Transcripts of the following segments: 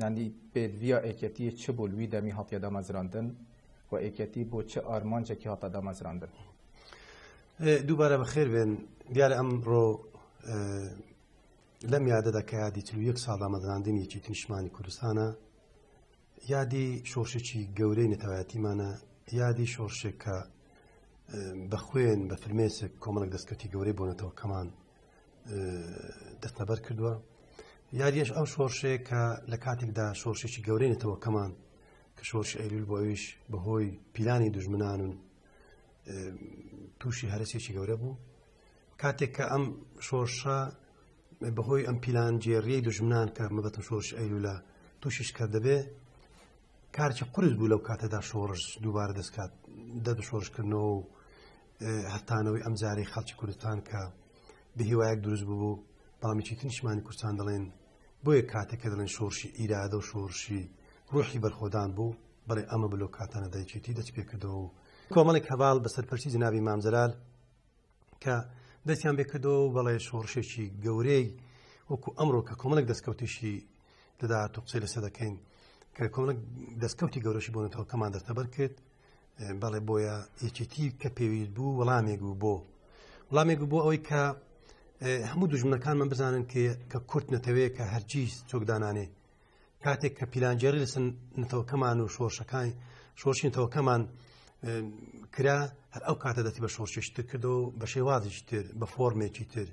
یانی پێت ویا ئێکێتیە چ بوو وی دەمی هاتیە دامەزراندن و ئێکێتی بۆ چ ئارمانجێکی هاتە دامەزراندن دووبارە بەخێر بێن دیارە ئەم ڕۆ لەم یادە دەکەیادی چ یەک ساڵ دامەزراندنی چی نیشمانی کوردستانە یادی شۆشێکی گەورەی نەتەوایەتیمانە یادی شۆرشێک کە بە خوێن بە فرمێسک کۆمەڵک دەستکەوتی گەورەی بۆنەتەوە کەمان دەستەبەر کردووە یاریش ئەو شۆرشێ کە لە کاتێکدا شۆرشێکی گەورەێتەوە کەمان کە شۆرش ئەیلول بۆیش بەهۆی پیلانی دژمنان و تووشی هەرسێکی گەورە بوو کاتێک کە ئەم شۆرشە بەهۆی ئەم پیلان جێریەی دژمنان کە مەبەتم شۆرش ئەیلولە تووشیش کە دەبێ کارکی قرس بوو لەو کاتەدا شۆڕش دووبارە دەستکات دەست شۆرشکردنەوە و هەتانەوەی ئەم جارەی خەڵکی کوردستان کە بە هیوایەک دروست ببوو بەڵامیی تنیشمانی کوردستان دەڵێن بۆیە کاتێک کە دەڵێن شۆڕشی ئیرادە و شۆڕشی ڕوحی بەرخۆدان بوو بڵێ ئەمە بلۆ کاتانە دایکێتی دەست پێکردەوە و کۆمەڵێک هەواڵ بە سەرپەرچی جنابی مامجلال کە دەستیان بێکردەوە و بەڵێ شۆڕشێکی گەورەی وەکو ئەمڕۆ کە کۆمەڵک دەستکەوتیشی دەدات و قسەی لەسە دەکەین کە کۆمەک دەستکەوتی گەورەشی بۆنەتەوەکەمان دەستەبەر کرد بەڵێ بۆیە یەکێتی کە پێویست بوو وەڵامێک بوو بۆ وڵامێک بۆ ئەوەی کە هەموو دژمنەکان من بزانن کە کورت نەتەوەیە کە هەرگیز چۆکدانانێ کاتێک کە پیلانجێری لەسن نتەوەکەمان و شۆرشەکانی شۆشی نتەوەکەمان کرا هەر ئەو کاتە دەتی بە شۆرشێشتر کردو بە شێوازیشی تر بە فۆرمێکی تر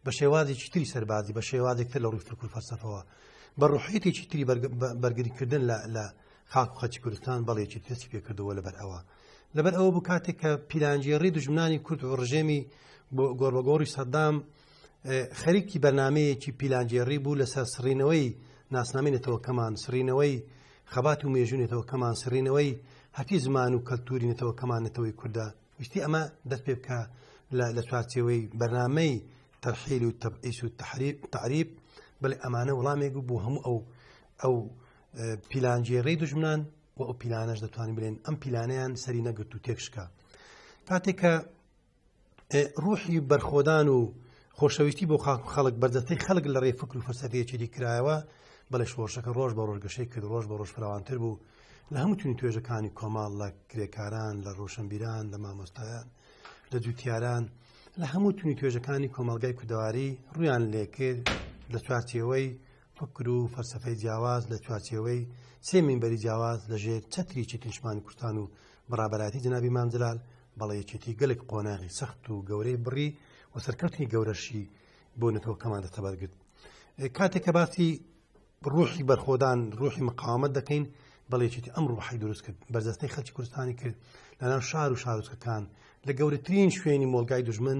بە شێوازێکی تری سەربازی بە شێوازێکتر لە ڕووی فکر فەرسەفەوە بە ڕحیتێکی تری بەرگریکردن لە خاک و خەتی کوردستان بەڵێکی تەسی پێکردەوە لەبەر ئەوە لەبەر ئەوە بوو کاتێک کە پیلانجێڕی دژمنانی کورد و ڕژێمی گۆڕبەگۆڕی سەدام خەریکی بەرنمەیەکی پیلانجێڕی بوو لەسەر سڕینەوەی ناسنامی نەتەوەکەمان سرینەوەی خەبات و مێژونێتەوەکەمان سرینەوەی هەتی زمان و کەلتوری نەتەوەکەمان نەتەوەی کووردا ویستی ئەمە دەست پێ بکە لە چوارچەوەی بەرنمەی تەرحیل و تەبعیس و تحریب تعریب بڵێ ئەمانە وڵامێک بوو هەموو ئەو ئەو پیلانگێڕی دژمنان و ئەو پیلانەش دەتوانین بلێن ئەم پیلانیان سەری نەگرت و تێکشکا کاتێکە ڕوحی بەرخۆدان و خۆشەویستی بۆ خاک و خەڵک بەردەستەی خەڵک لە ڕێ فکر و فەسەفێچێری کرایەوە بەڵێ شۆڕشەکە ڕۆژ بە ڕۆژگەشەی کرد ڕۆژ بە ڕۆژ فراوانتر بوو لە هەمووتونی توێژەکانی کۆماڵ لە کرێکاران لە ڕۆشنبیران لە مامۆستایان لە جوتیاران لە هەموو تونی توێژەکانی کۆمەلگای کوردەواری ڕویان لێکرد لە چوارچەوەی فکر و فەلسەفەی جیاواز لە چوارچێوەی سێ مینبەری جیاواز لە ژێر چەتری چەتری نیشتمانی کوردستان و بەڕابەراتی جەنابی مام جەلال بەڵێ یەکێتی گەلێک قۆناغی سەخت و گەورەی بڕی و سەرکەوتنی گەورەشی بۆ نەتەوەکەمان دەستەبەر گرت ئێ، کاتێک کە باسی ڕوحی بەرخۆدان ڕوحی مقاومت دەکەین بەڵێکێتی ئەم ڕوحی دروست کرد بەرجەستەی خەلکی کوردستانی کرد لەناو شار و شارۆچکەکان لە گەورەترین شوێنی مۆلگای دژمن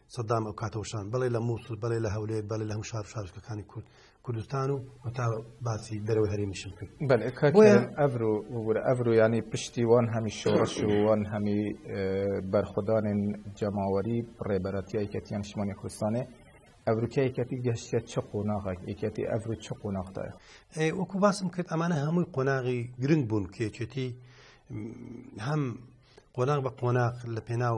سەدام ئەو کاتە وشان بەڵێ لە مووسڵ بەڵێ لە هەولێر بەڵێ لە هەم شار شارشکەکانی کورد کوردستان و تا باسی دەرەوە هەرێمیشم کرد ئەبر و وەگورە ئەبر و ینی پشتی وان هەمی شۆڕش و وان هەمی بەرخدانین جەماوەری ڕێبەرەتی یکەتیان شمانی کوردستانێ ئەبروکە یکەتی گەشتە چ قۆناغێک یکەتی ئەبر و چ قۆناغدایە وەکو باسم کرد ئەمانە هەمووی قۆناغی گرنگ بوون کێچێتی هەم قۆناغ بە قۆناغ لە پێناو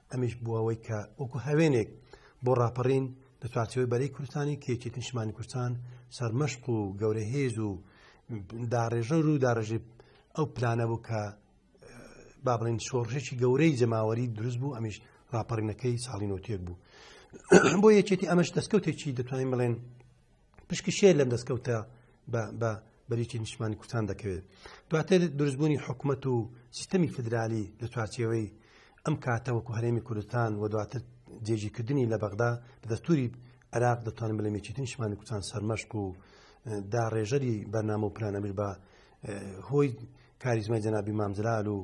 ئەمیش بووەوەی کە وەکو هاوێنێک بۆ ڕاپەڕین لە چوارچەوەی بەرەی کوردستانی کێکی نیشمانی کوردستان سەرمەشق و گەورە هێز و داڕێژەر و داڕژی ئەو پلانە بوو کە با بڵین شۆڕشێکی گەورەی جەماوەری دروست بوو ئەمیش ڕاپەڕینەکەی ساڵی نوتێک بوو بۆ یەکێتی ئەمەش دەستکەوتێکی دەتوانین بڵێن پشکشێ لەم دەستکەوتە بە بەریتی نیشتمانی کوردستان دەکەوێت دواتر دروستبوونی حکومت و سیستەمی فدرالی لە چوارچێوەی ئەم کاتە وەکو هەرێمی کوردستان و دواتر جێژیکردنی لە بەغدا لە دەستوری عراق دەتوانم بڵێ مێچیتی نیشمانی کوردستان سەرمەشق و دا ڕێژەری بەرنامە و پلانەمیر بە هۆی کاریزمای جەنابی مامزرال و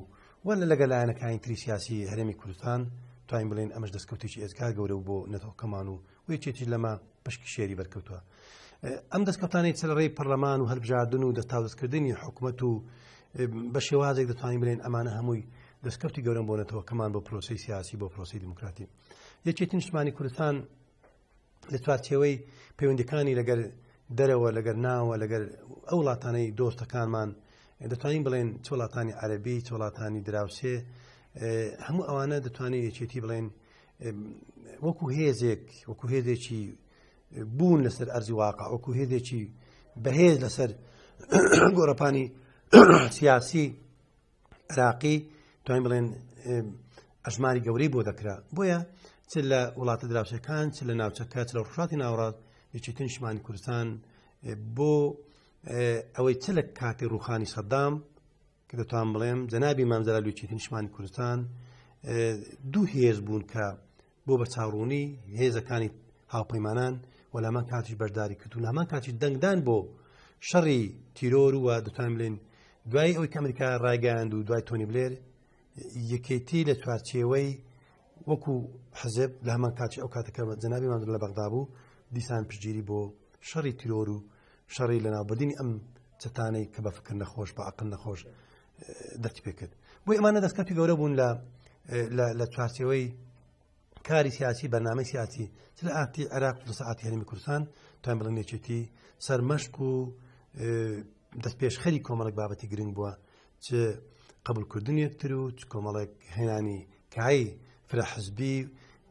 وە لە لەگە لایەنەکانی تری سیاسی هەرێمی کوردستان توانین بڵێن ئەمەش دەستکەوتێکی ئێزگار گەورە بۆ نەتەوەکەمان و و یەکێتیش لەمە پشکی شێری بەرکەوتووە ئەم دەستکەوتانی چلڕێی پەرلەمان و هەلبژاردن و دەستاوزکردنی حکوومەت و بە شێوازێک دەتوانین بلێن ئەمانە هەمووی دەستکەوتی گەورم بۆنەتەوە کەمان بۆ پرۆسی سیاسی بۆ پرۆسی دموکراتی یەکێتی نیشتمانی کوردستان لە چوارچەوەی پەیوەندەکانی لەگەر دەرەوە لەگەر ناوە لەگەر ئەو وڵاتانەی دۆستەکانمان دەتوانین بڵێن چ وڵاتانی عەربی چ وڵاتانی دراوسێ هەموو ئەوانە دەتوانین یەکێتی بڵێن وەکو هێزێک وەکو هێزێکی بوون لەسەر ئەرزی واقع وەکو هێزێکی بەهێز لەسەر گۆڕەپانی سیاسی عراقی توانین بڵێن ئەژماری گەورەی بۆ دەکرا بۆیە چ لە وڵاتە دراوسەکان چ لە ناوچەکە چ لە ڕژاتی ناوڕاست یەکێتن شمانی کوردستان بۆ ئەوەی چ لە کاتی ڕوخانی سەدام کە دەتوان بڵێم جەنابی مامزرا لوچێتی نیشمانی کوردستان دوو هێز بوون کە بۆ بە چاڕوونی هێزەکانی هاوپەیمانان و لەمان کاتیش بەشداری کرد و لەمان کاتی دەنگدان بۆ شەڕی تیرۆر و دەتوان بلێن دوای ئەوی ئەمریکا ڕایگەاند و دوای تۆنی بلێر یەکێتی لە چوارچێوەی وەکو حزب لە هەمان کاتی ئەو کاتەکە جەنابی مادر لە بەغدا بوو دیسان پشگیری بۆ شەڕی تیرۆر و شەڕی لە ناوبردننی ئەم چتانەی کە بە فکر نەخۆش بە عقل نەخۆش دەستی پێ کرد بۆی ئەمانە دەستکەتی گەورە بوون لە لە چارچەوەی کاری سیاسی بەنامە سیاسی چ لە ئاتی عێراق لە ساعتی هەرمی کوردستان تایم بڵێن یەکێتی سەرمەشق و دەست پێشخەری کۆمەڵک بابەتی گرنگ بووە چ قبولکردن یەکتر و چ کۆمەڵێک هێنانی کای فرە حزبی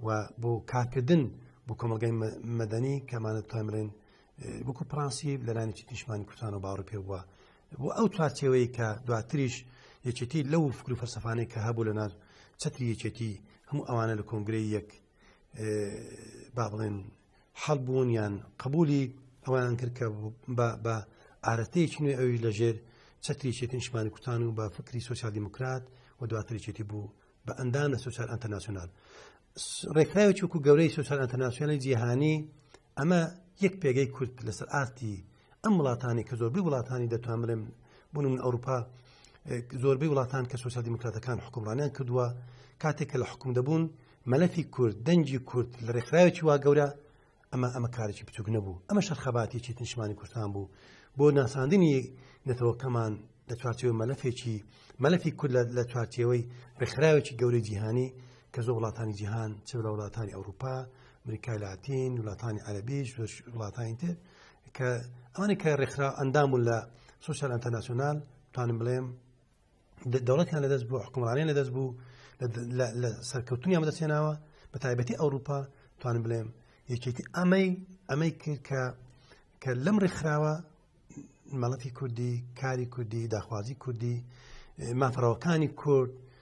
و بۆ کارکردن بۆ کۆمەلگای مەدەنی کەمانە توای مرێن وەکو پرانسی لەرانێکی نیشمانی کوردستان و باڕ پێ بووە بۆ ئەو چوارچەوەی کە دواتریش یەکێتی لەو فکر و فەرسەفانەی کە هەبوو لە ناز چتری یەکێتی هەموو ئەوانە لە کۆنگری یەک با بڵێن حەڵ بوون یان قبولی ئەویان کرد کە بە ئارەتەیەکی نوێ ئەوی لەژێر چەتری چێتی نیشمانی کوتان و بە فکری سوسیال دیموکرات و دواتری چێتی بوو بە ئەندام لە سوسیال ئەتەناسیۆنال ڕێکخراوی چووکو گەورەی سوسیال ئەتەناسیۆنی جیهانی ئەمە یەک پێگەی کورد لەسەر ئاستی ئەم وڵاتانی کە زۆربەی وڵاتانی دەتوان بڵێم بوون من ئەوروپا زۆربەی وڵاتان کە سوسیال دیموکراتەکان حکومڕانیان کردووە کاتێک کە لە حکوم دەبوون مەلەفی کورد دەنجی کورد لە ڕێکخراوێکی وا گەورە ئەمە ئەمە کارێکی بچوک نەبوو ئەمە شەرخەباتێکی تنشمانی کوردستان بوو بۆ ناساندنی نەتەوەکەمان لە چوارچەوەی مەلەفێکی مەلەفی کورد لە چوارچەوەی ڕێکخراوێکی گەورەی جیهانی کە زۆ وڵاتانی جیهان چ لە وڵاتانی ئەوروپا امریکای لاتین وڵاتانی عەربیش وڵاتانی تر کە ئەوانی کە ڕێکخرا ئەندام و لە سوسیال ئەتەناسیۆنال توانم بڵێم دەوڵەتیان لەدەست بوو حکومڕانیان لەدەست بوو لە سەرکەوتنیان بەدەستێناوە بە تایبەتی ئەوروپا توانم بڵێم یەکێتی ئەمەی ئەمەی کرد کە کە لەم ڕێکخراوە مەڵەتی کوردی کاری کوردی داخوازی کوردی مافڕەوەکانی کورد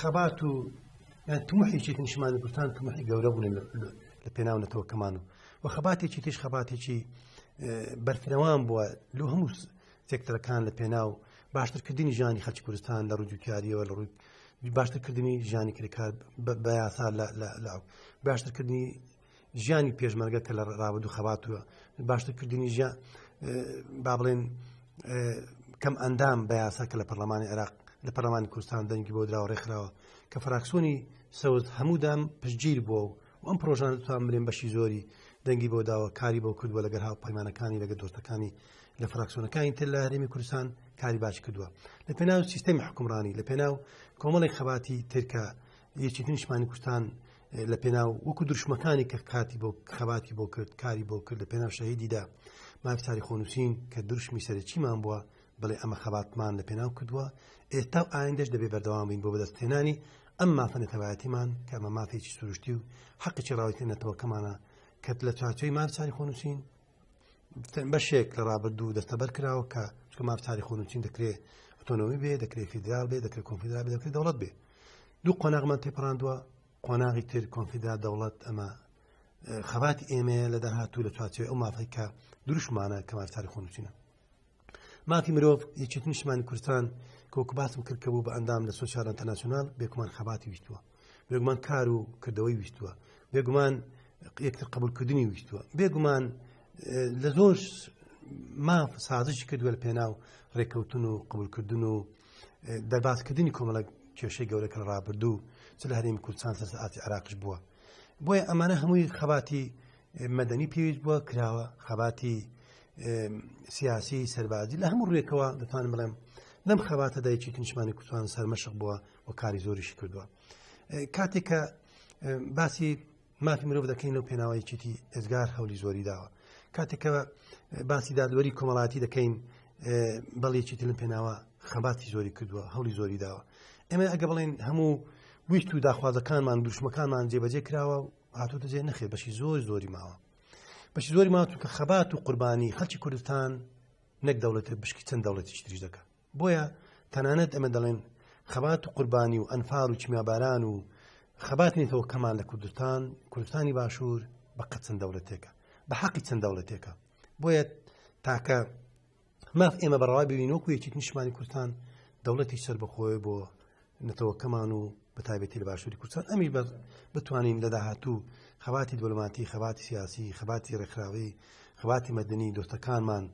خەبات و یان تموحێکی نیشمان کوردستان تموحی گەورە بوون لە پێناو نەتەوەکەمان و و خەباتێکی تیش خەباتێکی بەرفرەوان بووە لۆ هەموو سێکتەرەکان لە پێناو باشترکردنی ژانی خەلکی کوردستان لە ڕوودوکاریەوە لە ڕووی باشترکردنی ژانی کرێکار بە یاسا لە باشترکردنی ژیانی پێشمەرگە کە لە ڕابدو خەباتوە باشتر کردنی ژە با بڵێن کەم ئەندام بە یاسا کە لە پەرلەمانی عێراق لە پەرلەمانی کوردستان دەنگی بۆ دراوە ڕێکخراوە کە فراکسۆنی سەوز هەموودام پشتگیر بووە و ئەم پرۆژان توان برێن بەشی زۆری دەنگی بۆ داوە کاری بۆ کردووە لەگەر هاو پەیمانەکانی لەگە دۆستەکانی لە فراکسۆنەکانی تر لە هەرێمی کوردستان کاری باش کردووە لە پێناو سیستەمی حکومڕانی لە پێناو کۆمەڵی خەباتی ترکە یەکی نیشمانی کوردستان لە پێناو وەکو دروشمەکانی کە کاتی بۆ خەباتی بۆ کرد کاری بۆ کرد لە پێناو شەهیدیدا ماکساری خۆنووسین کە دروشمی سەرچیمان بووە بڵێ ئەمە خەباتمان لە پێناو کردووە ئێستا و ئایندەش دەبێ بەردەوام بین بۆ بەدەستێنانی ئەم مافە نەتەوایەتیمان کە ئەمە مافێکی سروشتی و حەقی چڕاوی نەتەوەکەمانە کەت لە چاچەی مارچاری خۆنووسین بەشێک لە ڕابردوو دەستەبەر کراوە کە چکە ماف تاریخ و نووسین دەکرێت ئۆتۆنۆمی بێ دەکرێت فیدرال بێ دەکرێت کۆنفیدرال بێ دەکرێت دەوڵەت بێ دوو قۆناغمان تێپڕاندووە قۆناغی تر کۆنفیدا دەوڵەت ئەمە خەبات ئێمەیە لە داهاتوو لە چوارچێ ئەو مافەی کە دروشمانە کەمار تاریخ و نووسینە مافی مرۆڤ یەکێت نیشمانی کوردستان کۆک باسم کرد کە بوو بە ئەندام لە سوسیال ئەتەناسیۆنال بێکمان خەباتی ویستووە بێگومان کار و کردەوەی ویستووە بێگومان یەکتر قبولکردنی ویستووە بێگومان لە زۆر ماف سازش کردووە لە پێناو ڕێککەوتن و قبولکردن و دەربازکردنی کۆمەڵە کێشەی گەورەکە لە ڕابردوو چ لە هەرێمی کوردستان سەر ئاتی عراقش بووە بۆیە ئەمانە هەمووی خەباتی مەدەنی پێویست بووە کراوە خەباتی سیاسی سەربازی لە هەموو ڕێکەوە دەتوان بڵێم لەم خەباتە دایکی کنیشمانی کوردستان سەرمەشق بووە و کاری زۆریشی کردووە کاتێک کە باسی مافی مرۆڤ دەکەین لەو پێناوەیەکیتی ئێزگار هەولی زۆری داوە کاتێکەوە باسی دادوەری کۆمەڵاتی دەکەین بەڵێکی تلم پێناوە خەباتی زۆری کردووە هەولی زۆری داوە ئێمە ئەگە بڵێن هەموو ویست و داخوازەکانمان دوشمەکانمان جێبەجێ کراوە و هاتوتە جێ نەخێ بەشی زۆر زۆری ماوە بەشی زۆری ما چونکە خەبات و قوربانی خەلکی کوردستان نەک دەوڵەتێک بشکی چەند دەوڵەتی تریش دەکە بۆیە تەنانەت ئەمە دەڵێن خەبات و قوربانی و ئەنفار و چمیاباران و خەبات نیتەوە کەمان لە کوردستان کوردستانی باشوور بە قەت چەند دەوڵەتێکە بە حەقی چەند دەوڵەتێکە بۆیە تاکە ماف ئێمە بەڕوا ببین وەکو یەکێک نیشمانی کوردستان دەوڵەتی سەر بەخۆی بۆ نەتەوەکەمان و بە تایبەتی لە باشووری کوردستان ئەمی بەر بتوانین لە داهاتوو خەباتی دبلوماتی خەباتی سیاسی خەباتی ڕێکخراوی خەباتی مەدنی دۆستەکانمان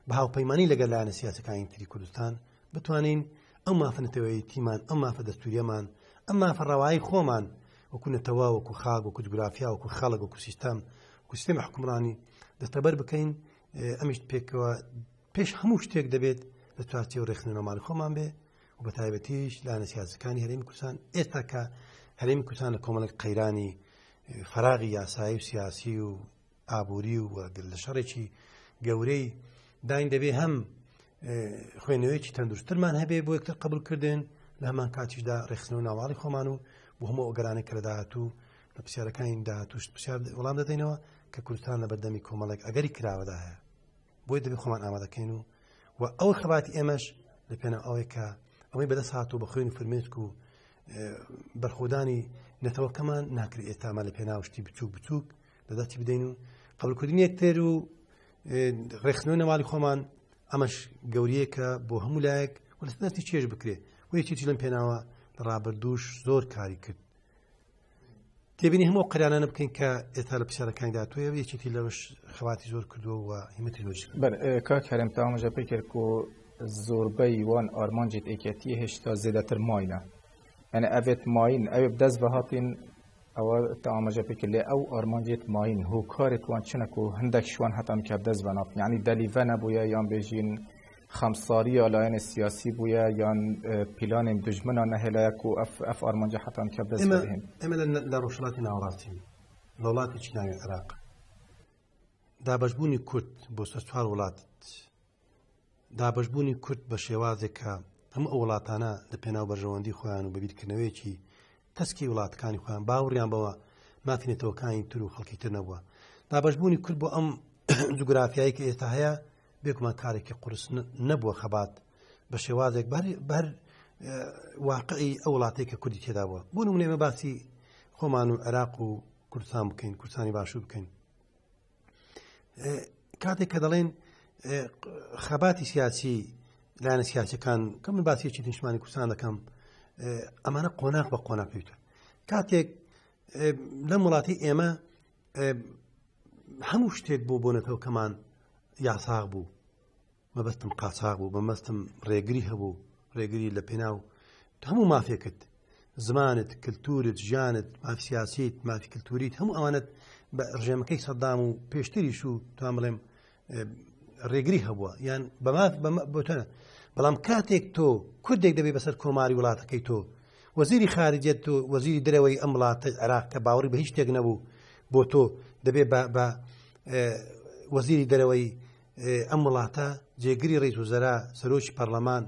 بە هاوپەیمانانی لەگەر لاەنە سیاسەکانی تری کوردستان بتوانین ئەو مافنەتەوەی تیمان ئەم مافە دەستوریەمان ئەم مافە ڕەوایی خۆمان وەکو نەتەوە وەکو خاک وەکو جوگرافیا وەکو خەڵک وەکو سیستەم وکو سیستەمی حکومڕانی دەستەبەر بکەین ئەمیش پێکەوە پێش هەموو شتێک دەبێت لە چوارچی و ڕێخنەمال خۆمان بێ و بە تایبەتیش لە نەسیازەکانی هەریم کوردستان ئێستا کە هەریم کوردستان لە کۆمەڵک قەیرانی فراغی یاسایی و سیاسی و ئابووری و وەگر لە شەڕێکی گەورەی داین دەبێ هەم خوێنەوەیەکی تەندروستترمان هەبێ بۆ یەکتر قبولکردن لە هەمان کاتیشدا ڕێخستن و ناواڵی خۆمان و بۆ هەموو ئۆگەرانە کە لە داهاتوو لە پرسیارەکانی داهاتوشت پرسیار وڵام دەدەینەوە کە کوردستان لە بەردەمی کۆمەڵێک ئەگەری کراوەدا هەیە بۆی دەبی خۆمان ئامادەکەین و و ئەو خەباتی ئێمەش لە پێنە ئەوەی کە ئەوەی بەدەست هات و بە خوێن و فرمێسک و بەرخۆدانی نەتەوەکەمان ناکرێت ئێتامان لە پێناوشتی بچووک بچووک لەداتی بدەین و قبلکردنی یەکتر و ڕێخنەوە نەوالی خۆمان ئەمەش گەوریەکە بۆ هەموو لایەک وەستی چێژ بکرێت و یەکێکی لەم پێناوە لە ڕابردووش زۆر کاری کرد تێبینی هەموو قرانانە بکەین کە ئێستا لە پرسیارەکانی داتوێ یەکێتی لەوش خەواتی زۆر کردووە و هیمەتی نوش کاک هەرم تاوامەژە پێ کرد و زۆربەی وان ئارمانجێت ئێکەتی هێشتا زێدەتر ماینە یعنی ئەبێت ماین ئەوێ دەست بە هاتین ئەوە تاوامەژە پێ کرد لێ ئەو ئارمانجێت ماین هۆکارێت وان چنەک و هەندێک شوان هەتان کە دەست بە ناف یعنی دەلیڤە نەبووە یان بێژین خەمساریە لایەنێ سیاسی بویە یان پیلانێ دوژمنا نەهێلایە کو ئەف ئارمانجە حەتان کەپ دەس بهێن؟ ئێمە لە ڕۆژهەڵاتی ناوەڕاستین لە وڵاتێکی ناوی عێراق دابەشبوونی کورد بۆ سەر چوار وڵات دابەشبوونی کورد بە شێوازێکە هەموو ئەو وڵاتانە لە پێناو بەرژەوەندی خۆیان و بەبییرکردنەوەیەکی تەسکی وڵاتەکانی خۆیان باوڕیان بەوە مافی نەتەوەکانی تر و خەڵکی تر نەبووە دابشبوونی کورد بۆ ئەم جوگرافیایی کە ئێستا هەیە بێکمان کارێکی قرس نەبووە خەبات بە شێوازێک بەر واقعی ئەو وڵاتی کە کوردی تێدا بووە بۆ نمونێمە باسی خۆمان و عێراق و کوردستان بکەین کوردستانی باشوو بکەین کاتێک کە دەڵێن خەباتی سیاسی لایەنە سیاسەکان کە من باسیێکی نیشمانی کوردستان دەکەم ئەمانە قۆناق بە قۆنا پێوتە کاتێک لەم وڵاتی ئێمە هەموو شتێک بۆ بۆنەتەوە کەمان یاساغ بوو مەبەستم قاچاق بوو بەمەستم ڕێگری هەبوو ڕێگری لە پێناو هەموو مافێکت زمانت کللتورت ژیانت مافسیاسیت مافی کللتوریت هەموو ئەوانت بە ڕژێمەکەی سەدام و پێشتریش و توان بڵێم ڕێگری هەبووە یان بەمات بۆتەنە بەڵام کاتێک تۆ کوردێک دەبێت بەسەر کۆماری وڵاتەکەی تۆ وەزیری خارجێت تۆ وەزیری درەوەی ئەم وڵاتە عراق کە باوەڕی بە هیچ شتێک نەبوو بۆ تۆ دەبێت بە وەزیری دەرەوەی ئەم وڵاتە جێگری ڕیز وزەرا سەرۆکی پەرلەمان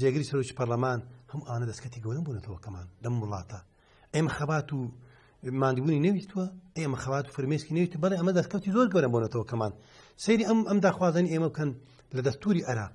جێگری سەرۆکی پەرلەمان هەم ئاە دەستکەتی گەورە بوونەتەوەکەمان لەم وڵاتە ئێمە خەبات و مادبوونی نەویستوە ئێمە خەوات فرمێسکی نویست بەڵێ ئەمە دەستکەوتی زۆر گەورە بۆنەتەوە کەمان سری ئەم ئەم داخوازنی ئێمە بکەن لە دەستوری عراق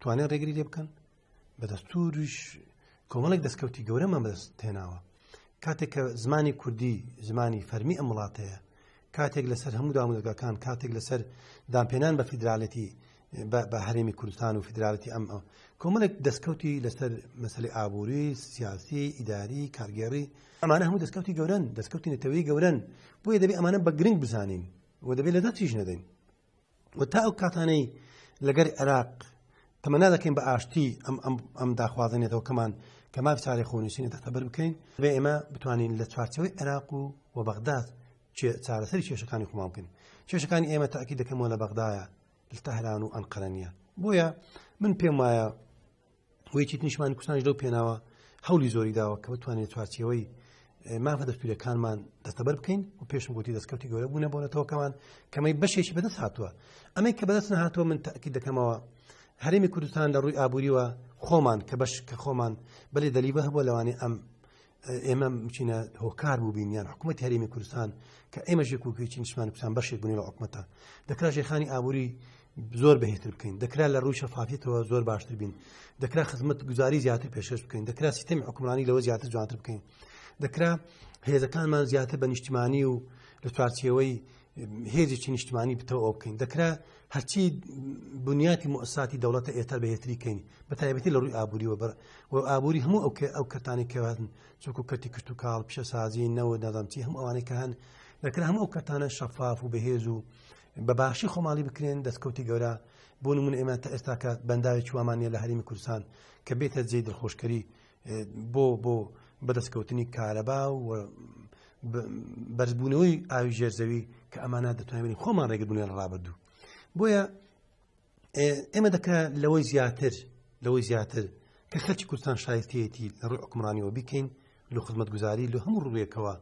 توانێت ڕێگری لێ بکەن بە دەستوریش کۆمەڵێک دەستکەوتی گەورەمان بەدەست تێناوە کاتێک کە زمانی کوردی زمانی فەرمی ئەم وڵاتەیە کاتێک لەسەر هەموو دامودەگەکان کاتێک لەسەر دامپێنان بە فیدراالەتی بە هەرێمی کوردستان و فیدراالەتی ئەم ئەو کۆمەڵێک دەستکەوتی لەسەر مەسلی ئابووری سیاسی ئیداری کارگێڕی ئەمانە هەموو دەستکەوتی گەورن دەستکەوتی نەتەوەی گەورن بۆیە دەبێت ئەمانە بە گرنگ بزانین و دەبێت لە دەستیش نەدەین و تا ئەو کاتانەی لەگەر عێراق تەمەنا دەکەین بە ئاشتی ئەم ئەم داخوازێنێتەوە کەمان کە ماف چارێ خۆنووسینە دەتەبەر بکەین بێ ئێمە بتوانین لە چوارچەوەی عێراق و و بەغداد چارەسەری کێشەکانی خۆمان بکەین کێشەکانی ئێمە تاکی دەکەمەوە لە بەغدایە لە تەهران و ئەنقەرەنیە بۆیە من پێم وایە ویتیت نیشمان کوردستانش لەو پێناوە هەولی زۆری داوە کە بتوانێت چوارچەوەی مافە دەستپیرەکانمان دەستەبەر بکەین و پێشم گوتی دەستکەوتی گەورە بوونە بۆنەتەوەکەمان کەمەی بەشێکی بەدەست هاتووە ئەمەی کە بەدەست نهاتوە من تاکی دەکەمەوە هەرێمی کوردستان لە ڕووی ئابووریوە خۆمان کە بەش کە خۆمان بەێ دەلیبە هەبووە لەوانی ئەم ئێمە بچینە هۆکار بووبین یان حکوومەت هەرێمی کوردستان کە ئێمە ژێکوکی چینشمان کوردستان بەشێک بوونی لە حکومەتە دەکرا ژێخانی ئابووری زۆر بەهێتر بکەین دەکرا لە ڕووی شەفافیتەوە زۆر باشتر بین دەکرا خزمەت گوزاری زیاتر پێشش بکەین دەکرا سیستمی حکومرانی لەوە زیاتر جوانتر بکەین دەکرا هێزەکانمان زیاتر بە نیشتیمانی و لە چوارچەوەی هێزێکی نیشتمانی بتەوە ئەو بکەین دەکرا هەرچی بنیاتی مۆساتی دەوڵەتە ئێتار بەهێتری کەین بە تایبەتی لە ڕووی ئابووری وەبەر و ئابووری هەموو ئەو ئەو کەتانی کەواتن چۆکو کەتی کشت و کاڵ پیشەسازی نەوە نەدەمچی هەموو ئەوانەی کە هەن دەکرا هەموو ئەو کەتانە شەفاف و بەهێز و بە باشی خۆماڵی بکرێن دەستکەوتی گەورە بۆ من ئێمە تا ئێستاکە بەنداوێکی وامانە لە هەرمی کوردستان کە بێتە جێ دڵخۆشکەری بۆ بۆ بەدەستکەوتنی کارەبا و بەرزبوونەوەی ئاوی ژێرزەوی کە ئەمانە دەتوانین خۆمان ڕێگەبوونە ڕابردوو بۆیە ئێمە دەکرا لەوەی زیاتر لەوەی زیاتر کە خەرچ کوردستان شایستەتی لە ڕووی حکمڕانیەوە بکەین لە خزمەت گوزاری لە هەموو ڕوویەکەوە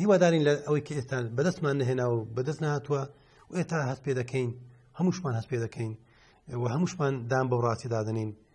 هیوادارین لە ئەوەی کە ئێستا بەدەستمان نەهێنا و بەدەست نهاتووە و ئێتا هەست پێ دەکەین هەمووشمان هەست پێ دەکەین و هەمووشمان دام بەو ڕاستی دادنین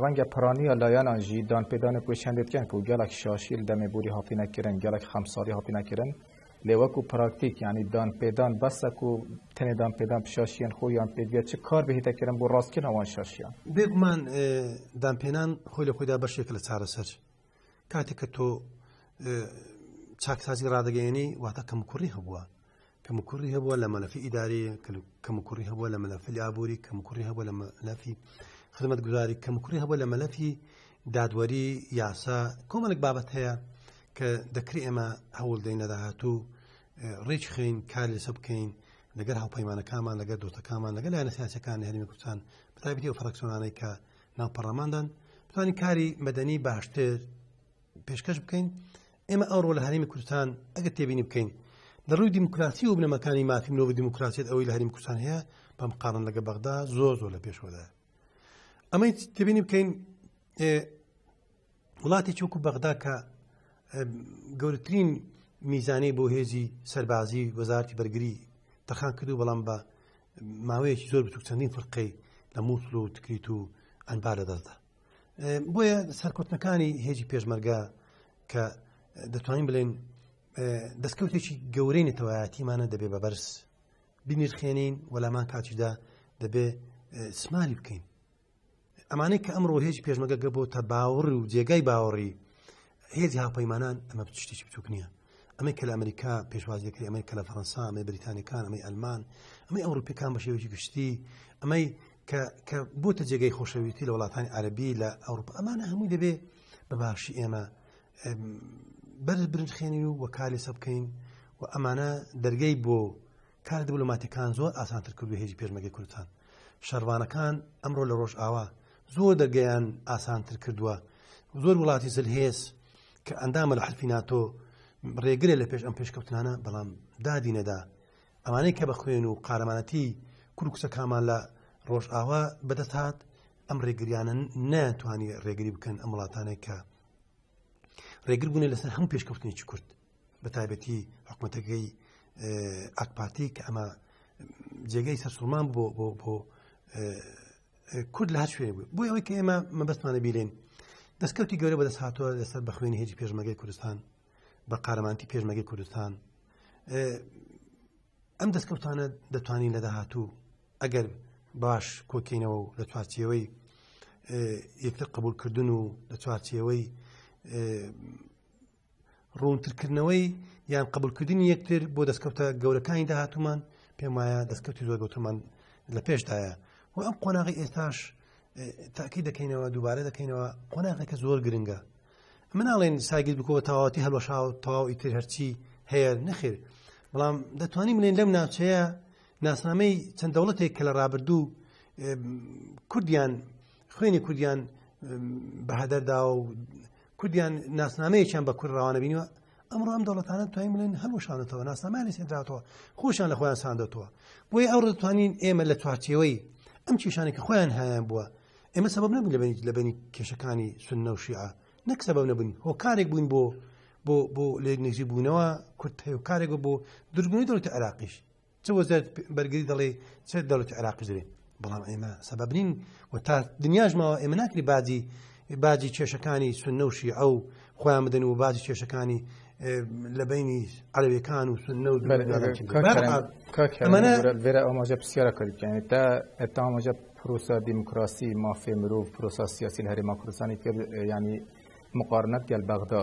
ڕەنگە پرانیە لایەنان ژی دان پێدانێ کوێشێندێت کەن کو گەلەک شاشیل دەمێ بوری هاتینە کرن گەلەک خەمساری هاتینە کرن لێ وەکو پراکتیک یعنی دان پێدان بەسە کو تەنێ دان پێدان پشاشیان خۆ یان پێگە چ کار بهێتە کرن بۆ ڕاست کردن ئەوان شاشیان بێگومان دان پێنان خۆی لە خۆیدا بەشێک لە چارەسەر کاتێک کە تۆ چاکسازی ڕدەگەێنی واتە کەم کوڕی هەبووە کەموکوڕی هەبووە لە مەلەفی ئیداری کەموکوڕی هەبووە لە مەلەفی ئابووری کەموکوڕی هەبووە لە مەلەفی خدمەت گوزاری کەموکوڕی هەبووە لە مەلەفی دادوەری یاسا کۆمەلک بابەت هەیە کە دەکری ئێمە هەوڵ دەین لە داهاتوو ڕێک خین کار لەسە بکەین لەگەر هاوپەیمانەکانمان لەگەر دۆتەکانمان لەگەر لایەنە سیاسەکان هەرمی کوردستان بەتابەتی و فراکسۆنانەی کە ناو پەڕەماندان بتوانین کاری مەدەنی باشتر پێشکەش بکەین ئێمە ئەوڕۆ لە هەرمی کوردستان ئەگە تێبینی بکەین لە ڕووی دیموکراسی و بنەمەکانی مافی مرۆڤ دیموکراسیت ئەوەی لە هەریم کوردستان هەیە بەم قارن لەگە بەغدا زۆر زۆر لە پێشوەدا ئەمەی تێبینی بکەین وڵاتی چووکو بەغدا کە گەورترین میزانەی بۆ هێزی سەربازی وەزارتی بەرگری تەخان کردو بەڵام بە ماوەیەکی زۆر بچوک چەندین فرقەی لە مووسل و تکریت و ئەنبار لە دەستدا بۆیە سەرکوتنەکانی هێزی پێشمەرگا کە دەتوانین بڵێن دەستکەوتێکی گەورەی نەتەوایەتیمانە دەبێ بە بەرز بینیرخێنین وەلامان کاتیدا دەبێ سمالی بکەین ئەمانەی کە ئەمڕۆ هێز پێشمەگەگە بۆ تە باوەڕ و جێگای باوەڕی هێزی هاپەیمانان ئەمە شتێکی بچوک نییە ئەمەی کە لە ئەمریکا پێشوازیەکری ئەمەی کە لە فەرەنسا ئەمەی بریتانەکان ئەمەی ئەلمان ئەمەی ئەوروپەکان بە شێوەی گشتی ئەمەی کە بۆتە جێگەی خۆشەویستی لە وڵاتانی عربی لە ئەوروپا ئەمانە هەمووی دەبێ بە باشی ئێمە بەر برنجخێنی و وە کاری سە بکەین و ئەمانە دەرگەی بۆ کار دبلوماتەکان زۆر ئاسانتر کردو هێژی پێشمەگەی کوردستان شەرڤانەکان ئەمڕۆ لە ڕۆژئاوا زۆر دەرگەیان ئاسانتر کردووە زۆر وڵاتی زلهێز کە ئەندامە لە حلفی ناتۆ ڕێگرێ لە پێش ئەم پێشکەوتنانە بەڵام دادی نەدا ئەمانەی کە بە خوێن و قارەمانەتی کورکسە کامان لە ڕۆژئاوا بەدەست هاات ئەم ڕێگریانە ناتوانانی ڕێگری بکەن ئەم وڵاتانێک کە ڕێگر بوونێ لەسەر هەم پێشکەوتنێکی کورد بە تایبەتی حکوومەتەکەی ئاکپارتی کە ئەمە جێگەی سەرسوڵمان بۆ بۆ بۆ کورد لە هەچێ بوو بۆی ئەوەی کە ئێمە مەبەستمانە بیلێن دەستکەوتی گەورە بەدەست هاتووە لەسەر بە خوێنی هێجی پێشمەگەی کوردستان بە قارەمانتی پێشمەگەی کوردستان ئەم دەستکەوتانە دەتوانین لە داهاتوو ئەگەر باش کۆکەینەوە و لە چوارچەوەی یەکتر قبولکردن و لە چوارچەوەی ڕوونترکردنەوەی یان قبولکردنی یەکتر بۆ دەستکەوتە گەورەکانی داهاتومان پێم وایە دەستکەوتی زۆر گەوتمان لە پێشدایە و ئەم قۆناغی ئێستاش تاکی دەکەینەوە دووبارە دەکەینەوە قۆناغێکە زۆر گرنگە مناڵێن ساگیر بکەوە تەواتی هەڵەشا و تەواو ئیتر هەرچی هەیە نەخێر بەڵام دەتوانین منێن لەم ناوچەیە ناسنامەی چەند دەوڵەتێک کە لە ڕابردوو کوردیان خوێنی کوردیان بەهدەردا و کوردیان ناسنامەیەکیان بە کورد ڕوانە بینیوە ئەمڕۆ ئەم دەوڵەتانە توانین بڵێن هەڵوشانەتەوە ناسنامانی سێدراتەوە خۆشیان لە خۆیان ساندەتەوە بۆی ئەو دەتوانین ئێمە لە چوارچێوەی ئەم کێشانی کە خۆیان هایان بووە ئێمە سەبب نەبوو لەبنی لەبنی کێشەکانی سنە و شیعە نەک سەبب نەبوون هۆکارێک بوون بۆ بۆ بۆ لێ نزی بوونەوە کورت هەیە کارێک بۆ درگونی دەوت عراقیش چ وەزارت بەرگری دەڵێ چ دەوت عراقی دەێ بەڵام ئێمە سەبەب نین و تا دنیاش ماوە ئێمە ناکری باجی باجی کێشەکانی سنەوشی ئەو خۆیان بدەن و باجی کێشەکانی لە بینی عەلەوەکان و سنە و ئەمەێرە ئاماژە پرسیارە کردیان تا ئەتا ئاماژە پرۆسا دیموکراسی مافێ مرۆڤ پرۆسا سیاسی هەرێما کوردستانی کرد ینی مقارنەت گەل بەغدا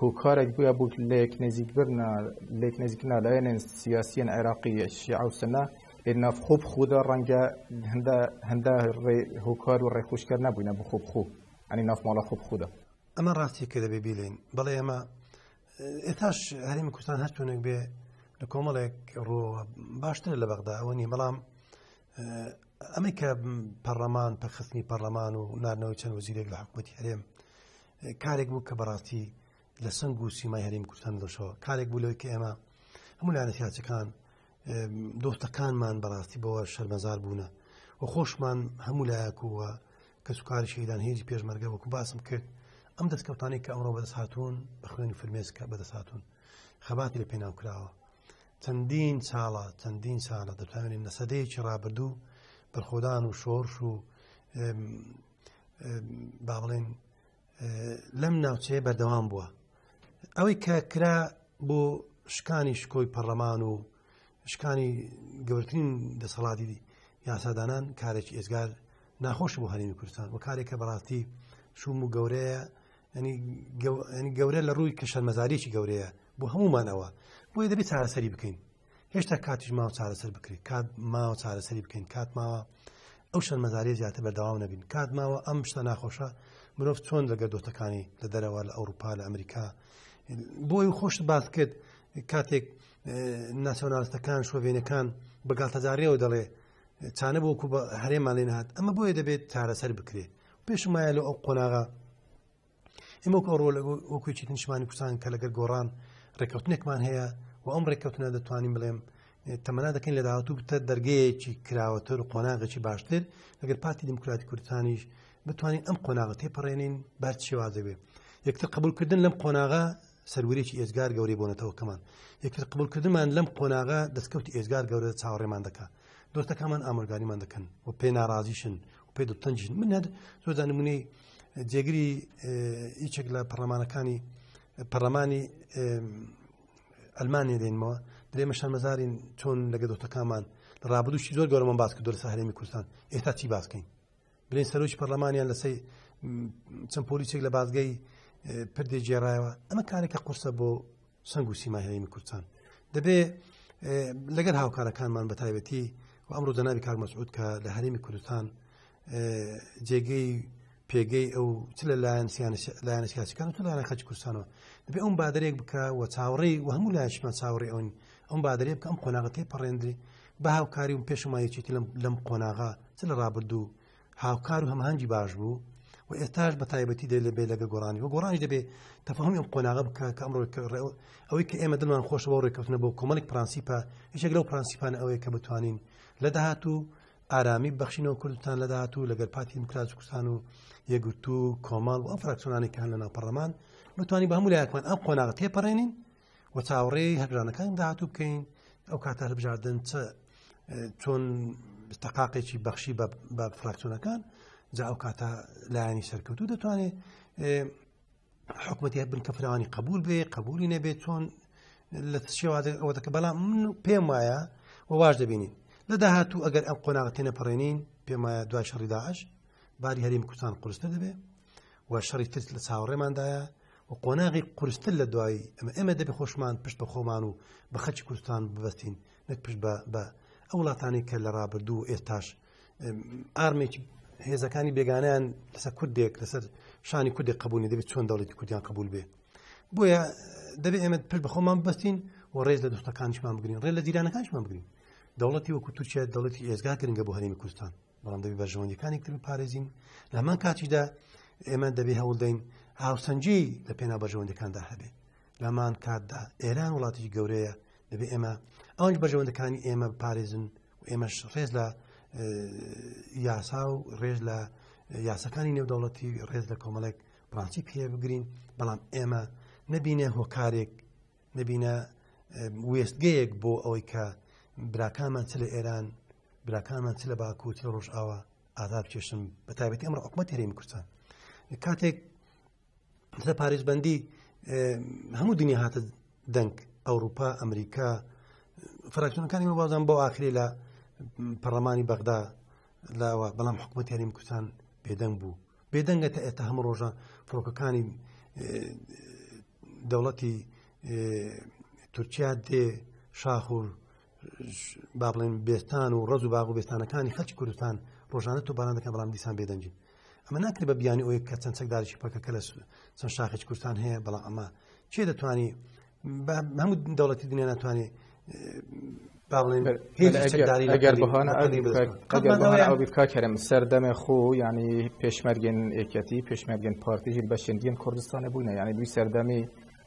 هۆکارێک بویە بۆ لێک نزیکبرنا لێک نزیکنا لایەنێن سیاسیەن عێراقی شیعە و سنە لێ ناف خوب خودا ڕەنگە هەندە هەندە هۆکار و ڕێخوشکە نەبووینە بۆ خوب خو ئەنی ناف ماڵە خوب خودا ئەمە ڕاستی کە دەبێ بیلین بەڵێ ئەمە ئێتاش هەرمی کوردستان هەرتونێک بێ لە کۆمەڵێک ڕۆ باشتر لە بەغدا ئەوە نیە بەڵام ئەمە کە پەرلەمان پەخستنی پەرلەمان و نارنەوەی چەند وەزیرێک لە حکوومەتی هەرێم کارێک بوو کە بەڕاستی لە سنگ و سیمای هەریم کوردستان دەشەوە کارێک بوو لەوەی کە ئێمە هەموو لایەنە سیاسەکان دۆستەکانمان بەڕاستی بەوە شەرمەزار بوونە و خۆشمان هەموو لایەکووە کە سوکاری شەیدان هێزی پێشمەرگە وەکو باسم کرد ئەم دەستکەوتانی کە ئەمڕۆ بەدەست هاتوون بە خوێنی فرمێسکە بەدەست هاتوون خەباتی لە پێناو کراوە چەندین ساڵە چەندین ساڵە دەتوانین لە سەدەیەکی ڕابردوو بەرخۆدان و شۆرش و با بڵێن لەم ناوچەیە بەردەوام بووە ئەوەی کە کرا بۆ شکانی شکۆی پەرلەمان و شکانی گەورترین دەسەڵاتی یاسادانان کارێکی ئێزگار ناخۆش بۆ هەرمی کوردستان و کارێکە بەڕاستی شوم و گەورەیە ینی گەورە لە ڕووی کە شەرمەزاریی گەورەیە بۆ هەمومان ئەوە بۆی دەبێت چارەسەری بکەین هێشتا کاتیش ماوە چارەسەر بکرێت کات ماوە چارەسەری بکەین کات ماوە ئەو شەر مەزاری زیاتر بەردەوام نەبین کات ماوە ئەم شتە ناخۆشە مرۆڤ چۆن لە گەردۆتەکانی لە دەرەوە لە ئەوروپا لە ئەمریکا بۆی خۆش باس کرد کاتێک ناسیۆنالستەکان شۆڤێنەکان بەگاتەجارەوە دەڵێ چانە بۆکو بە هەرێمان لێ نهات ئەمە بۆیە دەبێت چارەسەر بکرێت پێشمایە لە ئەو قۆناغا ئمە کۆڕۆ لە وەکوی چیت نیشمانی کوردستان کە لەگەر گۆڕان ڕێککەوتنێکمان هەیە و ئەم ڕێککەوتنە دەتوانین بڵێم تەمەنا دەکەین لە داهاتوو بتە دەرگەیەکی کراوەتر و قۆناغێکی باشتر لەگەر پارتی دیموکراتی کوردستانیش بتوانین ئەم قۆناغە تێپەڕێنین بەر شێوازە بێ یەکتر قبولکردن لەم قۆناغا سەروریی ئێزگار گەورەی بۆنەتەوەکەمان یەکتر قبولکردمان لەم قۆناغا دەستکەوتی ئێزگار گەورە چاوەڕێمان دەکات دۆستەکانمان ئامرگاریمان دەکەن و پێ ناڕازیشن پێ دەتەنجین من هەر زۆردا نمونەی جێگری هیچێک لە پەرلەمانەکانی پەرلەمانی ئەلمانیا دێنمەوە درێمەشان مەزارین چۆن لەگە دۆتەکانمان لە ڕابدوشی زۆر گەۆرەمان باس کردو لە ساهرێمی کوردستان ئێستا چی باسکەین بلێن سەرۆکی پەرلەمانیان لەسەی چەند پۆلیسێک لە بازگەی پردێ گێڕایەوە ئەمە کارێکە قورسە بۆ سەنگ و سیمای هەرێمی کوردستان دەبێ لەگەر هاوکارەکانمان بەتایبەتی و ئەمڕۆ جەنابی کاک مەسعود کە لە هەرێمی کوردستان جێگەی پێگەی ئەو چ لە لایەن لایەنە سیاسەکان تو لایەنە خەچ کوردستانەوە دەبێ ئەم بادرێک بکە و چاوەڕێ و هەموو لایشمان چاوەڕێ ئەوین ئەم بادرێ بکە ئەم قۆناغەتی پەڕێندری بە هاوکاری و پێشمایەکی لەم قۆناغا چ لە ڕابردوو هاوکار و هەمانگی باش بوو و ئێستاش بە تایبەتی دێ لە بێ لەگە گۆڕانی و گۆڕانی دەبێ تەفاهمی ئەم قۆناغە بکە کە ئەمڕۆ ئەوەی کە ئێمە دڵمان خۆش بۆ ڕێککەوتنە بۆ کۆمەڵێک پرانسیپە یەک لەو پرانسیپان ئەوەیە کە بتوانین لە داهاتوو ئارامی بەخشینەوە کوردستان لە داهاتوو لەگەر پارتی دموکراس کوردستان و یەگرتو کۆمەڵ و ئەم فراکسۆنانی کان لە ناپەڕەمان بتوانین بە هەموو لایەکمان ئەم قۆناغ تێپەڕێنین و چاوەڕێ هەلبژانەکانی داهاتوو بکەین ئەو کاتە هەلبژاردن چ چۆن تەقاقێکی بەخشی بە فراکسۆنەکان جا ئەو کاتە لایانی سەرکەوتو دەتوانێت حکوومەتی بن کە فراوانی قبول بێ قبولی نەبێت چۆن لە شێوازە ئەوە دەکە بەڵام من پێم وایە و واش دەبینین لە داهاتوو ئەگەر ئەم قۆناغەتێنە پەڕێنین پێم وایە دوای شەڕی داعش باری هەریم کوردستان قرسنە دەبێت و شەڕی ترس لە چاوەڕێماندایە و قۆناغی قورستر لە دوایی ئەمە ئێمە دەبێ خۆشمان پشت بە خۆمان و بە خەچی کوردستان ببەستین نەک پشت بە ئەو وڵاتانی کە لە ڕابردوو ئێستاش ئارمێکی هێزەکانی بێگانیان لەسەر کوردێک لەسەر شانی کوردێک قبولی دەبێت چۆن دەڵێتی کوردیان قبول بێ بۆیە دەبێت ئێمە پشت بە خۆمان بەستین و ڕێز لە دۆستەکانشمان بگرین ڕێ لە جیرانەکانشمان بگرین دەوڵەتی وەکو تورکیا دەڵێتی ئێزگا گرنگە بۆ هەرێمی کوردستان بەڵام دەبی بەرژەوەندەکانی تر پارێزین لەمان کاتیدا ئێمە دەبێ هەوڵدەین هاوسەنجی لە پێنا بەرژەوەندەکاندا هەبێ لەمان کاتدا ئێران وڵاتی گەورەیە دەبێ ئێمە ئەوەنج بەرژەوەندەکانی ئێمە پارێزن و ئێمەش ڕێز لە یاسا و ڕێز لە یاسەکانی نێودەوڵەتی ڕێز لە کۆمەڵێک پرانسی پێ بگرین بەڵام ئێمە نبینە هۆکارێک نبینە وێستگەیەک بۆ ئەوەی کە براکانمان چ لە ئێران براکانمان چ لە باکو چ لە ڕۆژئاوا ئازا بکێشن بە تابەتی ئەمڕ حکومەت هەرێمی کوردستان کاتێک لە پارێزبندی هەموو دنیا هاتە دەنگ ئەوروپا ئەمریکا فراکسیۆنەکانی بازان بۆ ئاخری لە پەرلەمانی بەغدا لاوە بەڵام حکوومەت یاریم کوردستان بێدەنگ بوو بێدەنگە تا ئێستا هەموو ڕۆژە فڕۆکەکانی دەوڵەتی تورکیا دێ شاخور با بڵێن بێستان و ڕز و باغ و بێستانەکانی خەچ کوردستان ڕۆژانە تو باران دەکەن بەڵام دیسان بێدەنگین ئەمە ناکرێت بە بیانی ئەوەیە کە چەند چەکدارێکی پەکەکە لە چەند شاخێک کوردستان هەیە بەڵام ئەمە چێ دەتوانانی هەموو دەوڵەتی دنیا ناتوانێت بکارم سەردەمێ خۆ ینی پێشمەرگێن ئێکەتی پێشمەرگێن پارتیژی بەشێندین کوردستانە بووینە یانی دوی سەردەمی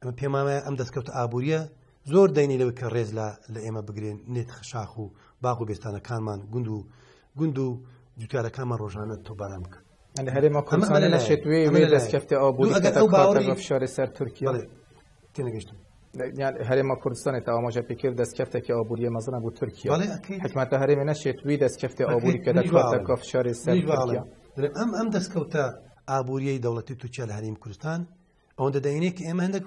ئەمە پێمانە ئەم دەستکەوتە ئابوووریە زۆر دەینی لەوەی کە ڕێز لە لە ئێمە بگرێن نێت خشاخ و باغ و بێستانەکانمان گوند و گوند و جوتارەکانمان ڕۆژانە تۆباران بکەن لە هەرێمە کوردستان لە شێتوێ دەستکەفتە ئەو بوو ئەگەر فشاری سەر تورکیا تێنەگەشتم هەرێمە کوردستانی تاوامەژە پێکرد دەستکەفتێکی ئەوبووریە مەزنە بۆ تورکیا حکومەتە هەرێمە نەشێت وی دەستکەفتی ئەوبووری کە دەکاتە کۆفشاری سەر ئەم ئەم دەستکەوتە ئابووریەی دەوڵەتی تورکیا لە هەریم کوردستان ئەوەندە دەینێک ئێمە هەندێک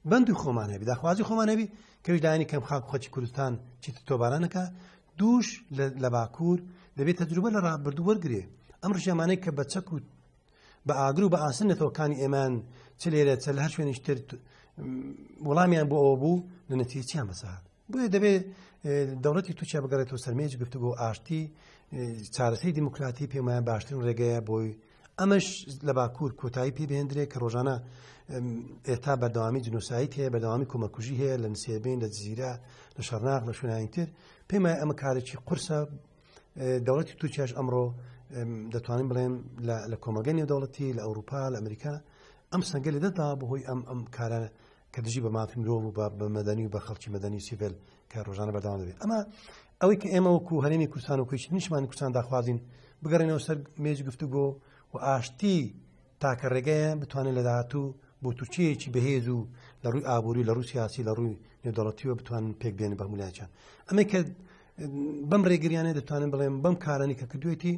بەندی خۆمان هەبی داخوازی خۆمان هەبی کە ویژدانی کەم خاک خۆچی کوردستان چیت تۆبارانەکە دووش لە باکوور دەبێت تەجروبە لە ڕابردوو وەرگێ ئەم ڕژێمانەی کە بە چەک و بە ئاگر و بە ئاسن نەتەوەکانی ئێمان چ لێرە چە لە هەر شوێنیشتر وڵامیان بۆ ئەوە بوو لە نەتیچیان بەسەهات بۆیە دەبێ دەوڵەتی تورکیا بگەڕێتەوە سەرمێج گفتوگۆ ئاشتی چارەسەی دیموکراتی پێمایە باشترین ڕێگەیە بۆی ئەمەش لە باکوور کۆتایی پێ بهێندرێ کە ڕۆژانە ئێتا بەردەوامی جنوسایت هەیە بەدەوامی کۆمەکوژی هەیە لە نسێبین لە جززیرە لە شەرناغ لە شوێنینتر پێمای ئەمە کارێکی قورسە دەوڵەتی تورکیاش ئەمڕۆ دەتوانین بڵێن لە کۆمەگەنی دەوڵەتی لە ئەوروپا لە ئەمریکا ئەم سنگە لە دەدا بەهۆی ئەم ئەم کارە کە دژی بە مافی مرۆڤ و بە مەدەنی و بە خەڵکی مەدەنی سیڤل کە ڕۆژانە بەردەوام دەبێت ئەمە ئەوەی کە ئێمە وەکو هەرێمی کوردستان و کوچ نیشمان کوردستان داخوازین بگەڕێنەوە سەر مێز گفتوگۆ و ئاشتی تاکە ڕێگەیە بتوانێت لە داهاتوو بۆ تورکیەکی بەهێز و لە ڕووی ئابووری لە ڕوسیاسی لە ڕووی نێودەڵەتیوە بتوان پێک بێن بە مولاچان ئەمە کە بەم ڕێگریانە دەتوانن بڵێم بەم کارانی کە کردوێتی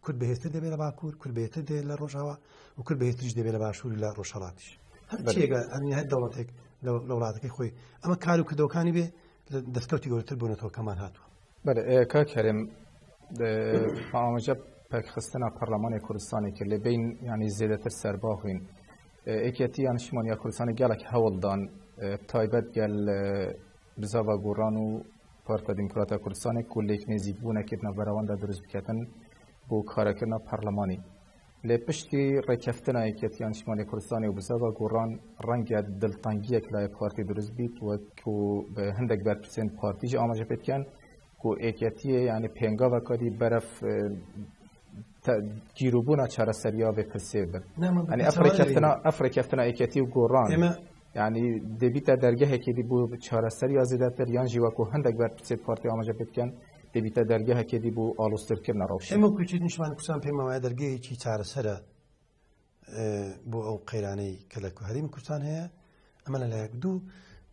کورد بەهێزتر دەبێت لە باکوور کورد بێتر دێت لە ڕۆژەوە و کورد بەهێتریش دەبێت لە باشوور لە ڕۆژهڵاتیش هەرێگە ئەنی هەر دەوڵەتێک لە وڵاتەکەی خۆی ئەمە کار و کردەوەکانی بێ لە دەستکەوتی گەورتر بوونەتەوە کەمان هاتووە کا کەرێم ئاماژە پێکخستنە پەرلەمانی کوردستانی کرد لە بین ینی زیێدەتر سەرباخین ئێکێتی یانشمان یا کوردستانی گەڵک هەوڵدان تایبەت گەل بزاڤ گۆڕان و پارتە دیموکراتە کوردستانێک کو لێک نێزیک بوونە کردنە بەرەوەندە دروست بکەتن بۆ کارەکردە پەرلەمانی لە پشتی ڕێککەفتنە یەکێتی ئەنجمانی کوردستانی و بزەوە گۆڕان ڕەنگە دڵتەنگیەک لای پارتی دروست بیت وەک و هەندێک بەرپرسێن پارتیژ ئاماژە پێکەن و ئێکەتیە یعنی پێنگاوەکەدی بەرەف گیروبوونا چارەسەریا بێ پرسێ بن ئەنی ئەفرێکەفتنا ئەفرێکەفتنا یەکێتی و گۆڕان ئێمە یعنی دەبیتە دەرگەهێکی دی بوو چارەسەر یا زیدەتر یان ژیوەکو هەندێک بەر پرسێ پارتی ئاماژە بکەن دەبیتە دەرگەهێکی دی بوو ئالوسترکردنە ڕەوش ئێمە کوچی نیشمان کوسان پێمەوە دەرگەیەکی چارەسەرە بۆ ئەو قەیرانەی کە لە هەریم کوردستان هەیە ئەمە لە لایەک دوو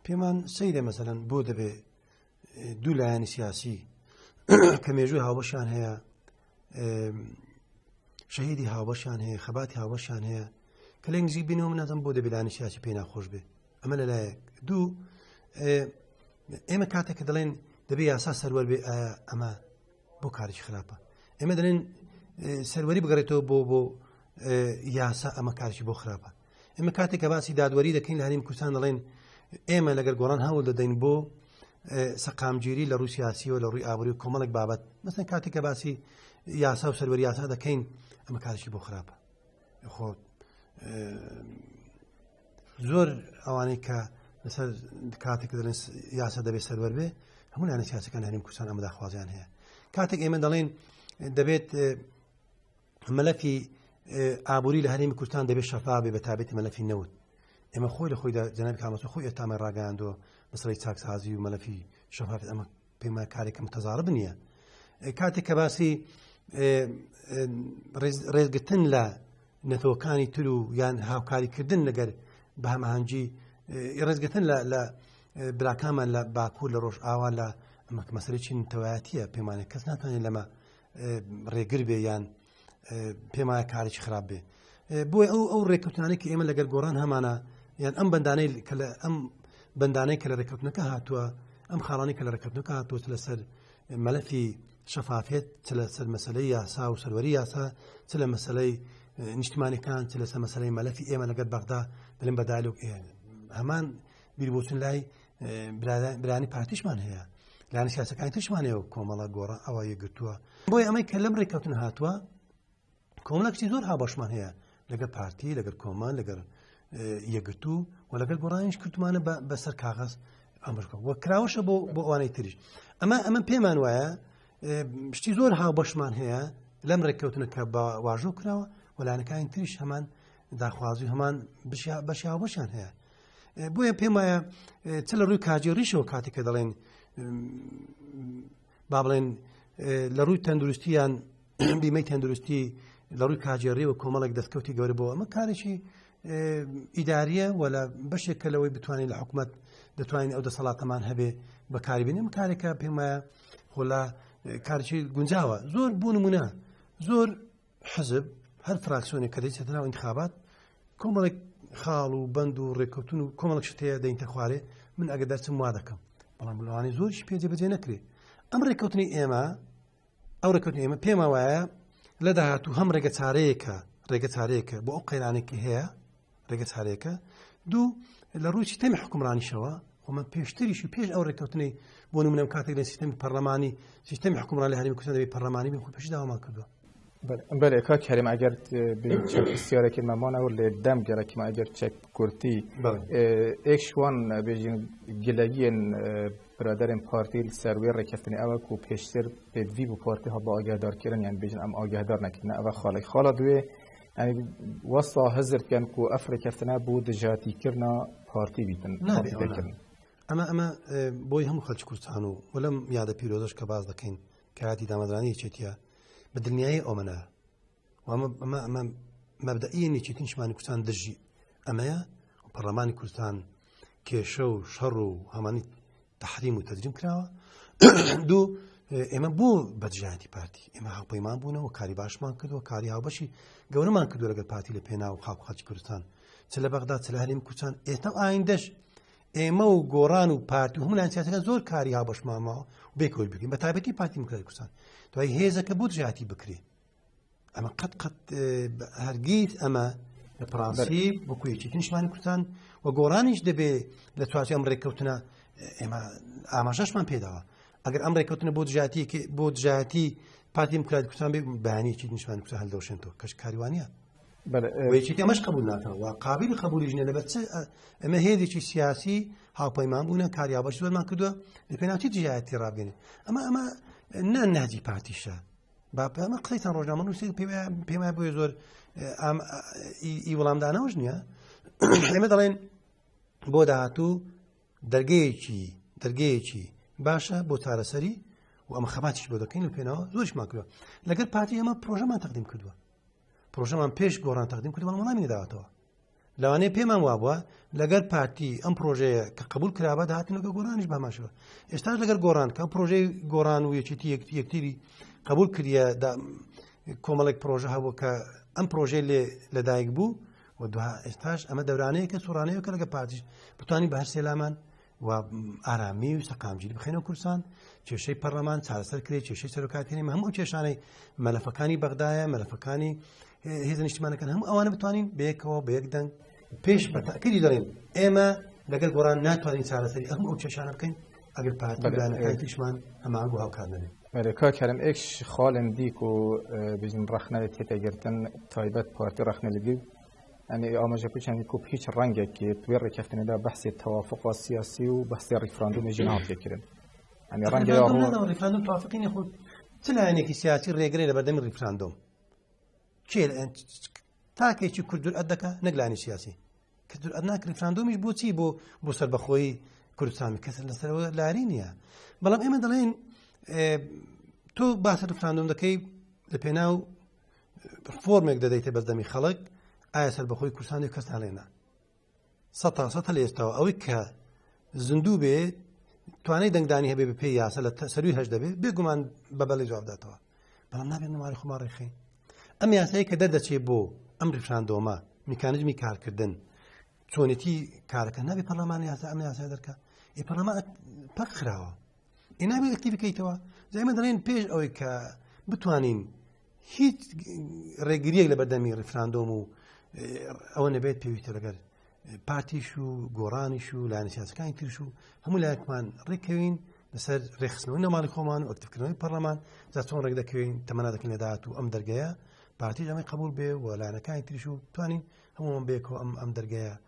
پێمان سەیرە مەسەن بۆ دەبێ دوو لایەنی سیاسی کە مێژووی هاوبەشان هەیە شەهیدی هاوبەشان هەیە خەباتی هاوبەشان هەیە کە لە نزیک بینەوە منەزم بۆ دەبیلانی سیاسی پێ ناخۆش بێ ئەمە لەلایەک دوو ئێمە کاتێک کە دەڵێن دەبێ یاسا سەروەر بێ ئەمە بۆ کارێکی خراپە ئێمە دەڵێن سەروەری بگەڕێتەوە بۆ بۆ یاسا ئەمە کارشی بۆ خراپە ئمە کاتێک کە باسی دادوەری دەکەین هەریم کوردستان دەڵێن ئێمە لەگەر گۆڕان هەوڵ دەدەین بۆ سەقامگیری لە ڕوسیاسیەوە لە ڕووی ئابووری و کۆمەڵک بابەت مەسن کاتێک کە باسی یاسا و سەروەری یاسا دەکەین ئەمە کارشی بۆ خراپە خۆ زۆر ئەوانەی کە لەسەر کاتێک دەڵێن یاسا دەبێت سەروەر بێ هەموو لانە سیاسەکان هەریم کوردستان ئەمەداخوازیان هەیە کاتێک ئێمە دەڵێن دەبێت مەلەفی ئابووری لە هەرێمی کوردستان دەبێت شەفا بێ بە تابێتی مەلەفی نەوت ئێمە خۆی لە خۆیدا جەناب کامەسە خۆی ئێتامە ڕاگەاندۆ بەسەری چاکسازی و مەلەفی شەفاف ئەمە پێما کارێکم تەزارب نییە کاتێک کە باسی ڕێزگرتن لە نەتەوەکانی تر و یان هاوکاریکردن لەگەر بە هەمەهنگی ڕێزگەتن لە براکانمان لە باکوور لە ڕۆژ ئاوا لە ئەمەک مەسەری چین تەوایەتە پێمانە کەس ناتوانێت لەمە ڕێگر بێ یان پێمایە کارێکی خراپ بێ بۆی ئەو ئەو ڕێککەوتانێکی ئێمە لەگەر گۆڕان هەمانە یان ئەم بەندانەی کە لە ئەم بەندانەی کە لە ڕێککەوتنەکە هاتووە ئەم خاڵانی کە لە ڕێککەوتنەکە هاتووە لەسەر مەلەفی شەفافێت چ لە سەر مەسلەی یاسا و سەروەری یاسا چ لە مەسلەی نیشتمانەکان چ لەسەر مەسلەی مەلەفی ئێمە لەگەر بەغدا دلم بەدالوک هەمان بیربچون لای برانی پارتیشمان هەیە لانی سیاسەکانی تشمانەیە و کۆمەڵە گۆڕە ئەوە یەگرتووە بۆی ئەمەی کە لەم ڕێککەوتن هاتووە کۆمەڵکتی زۆر هاوبەشمان هەیە لەگە پارتی لەگەر کۆمان لەگەر یەگرتو و لەگەر گۆڕانیش کردمانە بەسەر کاغەز ئەمرکە وە کراوەشە بۆ بۆ ئەوانەی تریش ئەمە ئەمە پێمان وایە شتی زۆر هاوبەشمان هەیە لەم ڕێککەوتنە کە بە واژۆ کراوە وەلانەکانی تریش هەمان داخوازی هەمان بەشیاوەشان هەیە بۆیە پێم وایە چ لە ڕووی کاجێڕیشەوە کاتێک کە دەڵێن با بڵێن لە ڕووی تەندروستیان بیمەی تەندروستی لە ڕووی کاجێڕیەوە کۆمەڵێک دەستکەوتی گەورە بۆ ئەمە کارێکی ئیداریە و لە بەشێک کە لەوەی بتوانین لە حکوومەت دەتوانین ئەو دەسەڵاتەمان هەبێ بەکاربینم کارێکە پێمایە خۆلا کارچی گونجاوە زۆر بوون منە زۆر حزب هەر فراکسیۆنێک کە دەچێتە ناو انتخابات کۆمەڵێک خاڵ و بند و ڕێککەوتن و کۆمەڵک شتەیە دەینتە خوارێ من ئەگە دەچم وا دەکەم بەڵام لەوانی زۆرش پێجێ بەجێ نەکرێ ئەم ڕێککەوتنی ئێمە ئەو ڕێککەوتن ئێمە پێما وایە لە داهاتوو هەم ڕێگە چارەیەکە ڕێگە چارەیەکە بۆ ئەو قەیرانێکی هەیە ڕێگە چارێکە دوو لە ڕووی سیستەمی حکومڕانیشەوە ومە پێشتریش و پێش ئەو ڕێککەوتنەی بۆ منم کاتێک لە سیستەمی پەرلەمانی سیستەمی حکومڕان لە هەرمی کوردستانی پەرلەمانی بخو پێش داوامان کردو بەێ کا کەریم ئەگەر پرسیارێکی مامانەوە لێ دەم گەرەکیمە ئەگەر چەک کورتی ئێکشوان بێژین گلەگیێن برادرم پارتی سەروێ ڕێککەفتنی ئەوە و پێشتر پێدوی بۆ پارتی هەڵ بە ئاگادارکردن یان بێژن ئەم ئاگادار نەکردن ئەوە خاڵی خاڵە دوێ وەستا هەزر بکەن و ئەف ڕێکەفتنە بۆ دژاتیکردنا پارتی بیتن نابێکردن ئەمە ئەمە بۆی هەموو خەلکی کوردستان و وەلم یادە پیرۆزش کە باز دەکەین کاتی دامەزرانی چێتە بە دنیای ئەومەە وامە ئەمە مەبدەئی نیچێتنشمانی کوردستان دژی ئەمەیە پەرلەمانی کوردستان کێشە و شەڕ و هەمانی تحریم و تەجریم کراوە دوو ئێمە بۆ بەجیاتی پارتی ئێمە هاوپەیمان بوونەوە کاری باشمان کردووە کاری هاوبەشی گەورەمان کردو لەگەر پارتی لە پێنا و خاپ خەچ کوردستان چ لە بەغدا چ لە هەریم کوچان ئێستا ئایندەش ئێمە و گۆڕان و پارتی و هەموو لانسیاتەکە زۆر کاری هاوبەشمامەوە بێکۆل بگەین بە تایبەتی پارتی مکرای کوردستان دوای هێزەکە بۆ جیاتی بکرێت ئەمە قەت قەت هەرگیز ئەمە لە پرانسی بکوێکی تنشمانی کوردستان و گۆڕانیش دەبێ لە چوارچ ئەم ڕێککەوتنە ئێمە ئاماژەشمان پێداوە ئەگەر ئەم ڕێککەوتنە بۆ دژاتی بۆ دژاتی پارتی مکرات کوردستان بێ بەیانێکی نیشمان کوردستان هەلدەوشێنەوە کەش کاروانە وەیەکی ئەمەش قبول ناکەەوە قابل قبولی ژنە لەبەر ئەمە هێزێکی سیاسی هاوپەیمان بوونە کاریابەش زۆرمان کردووە لە پێناوتی دژایەتی ڕابێنێ ئەمە ئەمە نە نهجی پارتیشە باپەمە قسەیتان ڕۆژنامە نووسین پێم بۆ زۆر ئی وەڵامدانەوەش نییە ئێمە دەڵێن بۆ داهاتوو دەرگەیەکی دەرگەیەکی باشە بۆ چارەسەری و ئەمە خەباتیش بۆ دەکەین و پێناوە زۆرشمان کردوە لەگەر پارتی ئەمە پرۆژەمان تەقدیم کردووە پرۆژەمان پێش گۆڕان تەقدیم کردوە وەڵامی داوەتەوە لەوانەیە پێمان وابووە لەگەر پارتی ئەم پرۆژەیە کە قبول کرابە داهاتنەکە گۆرانیش بەماشەوە ئێستا لەگەر گۆران کە پرۆژەی گۆران و یەکێتی یەکتیری قبول کردە کۆمەڵێک پرۆژە هەبوو کە ئەم پرۆژەی لێ لەدایک بوو و دوها ئێستاش ئەمە دەورانەیە کە سوڕانەیە کە لەگە پارتیش بتانی بە هەر سێلامان و ئارامی و سەقامگیری بخێنەوە کوردستان کێشەی پەرلەمان چارەسەر کرێت کێشەی سەرۆکاتێنی هەموو کێشانەی مەلەفەکانی بەغدایە مەلەفەکانی هێز نیشتمانەکان هەموو ئەوانە بتوانین بەیەکەوە بە یەک دەنگ پێش بەتاکردی دەڵێن ئێمە لەگەل گۆڕان ناتوانین چارەسەری ئەم ئەو کێشانە بکەین ئەگەر پارتیشمان هەمان بۆ هاوکار نەبێت کارم ئێکش خاڵندیک و بژین ڕخنەوێت تێتەگرتن تایبەت پارتی ڕخنە لەبی ئەنێ ئاماژە پچانی کوپ هیچ ڕەنگێک کرد وێ ڕێککەفتنەدا بەحسێ تەوافق و سیاسی و بەحسێ ڕیفراندومی ژنان تێکردن ئەنێ ڕەنگە ڕیفراندوم توافقینی خۆ چ لایەنێکی سیاسی ڕێگرێ لە بەردەمی ڕیفراندۆم کێ تاکێکی کوردور ئەت دەکە نەگلانی سیاسی کە دور ئەناک ڕیفراندۆمیش بۆچی بۆ بۆ سەر بەخۆی کوردستان کەس لەسەرەوە لاری نییە بەڵام ئێمە دەڵێن تۆ باسە ڕفراندۆم دەکەی لە پێناو فۆرمێک دەدەیتە بەردەمی خەڵک ئایا سەربەخۆی کوردستانی کەسان لێنا سە تا سە لە ئێستاەوە ئەوەی کە زیندوو بێ توانای دەنگدانی هەبێ بە پێ یاسە لە سەروی هەش دەبێ بێگومان بە بەڵی جوابداتەوە بەڵام نابێت نماری خۆمان ڕێخین ئەم یاسایی کە دەردەچێت بۆ ئەم ڕفراندۆمە میکانزمی کارکردن چۆنێتی کارەکە نابێ پەرلەمانی یاسا ئەم یاسا دەرکە ئی پەرلەمان پەک خراوە ئینابێت ئەکتی بکەیتەوە زایمە دەڵێن پێش ئەوەی کە بتوانین هیچ ڕێگریەک لە بەردەمی ڕفراندۆم و ئەوە نەبێت پێویستە لەگەر پارتیش و گۆڕانیش و لایەن سیاسەکانی ترش و هەموو لایەکمان ڕێکەوین لەسەر ڕێخستنەوە نەماڵی خۆمان و ئەکتکردنەوەی پەرلەمان جا چۆن ڕێک دەکەوین تەمەنا دەکەن لەداات و ئەم دەرگەیە پارتی ئەمەی قبول بێ و لایەنەکانی تریش و توانین هەمووان بێکەوە ئەم ئەم دەرگەیە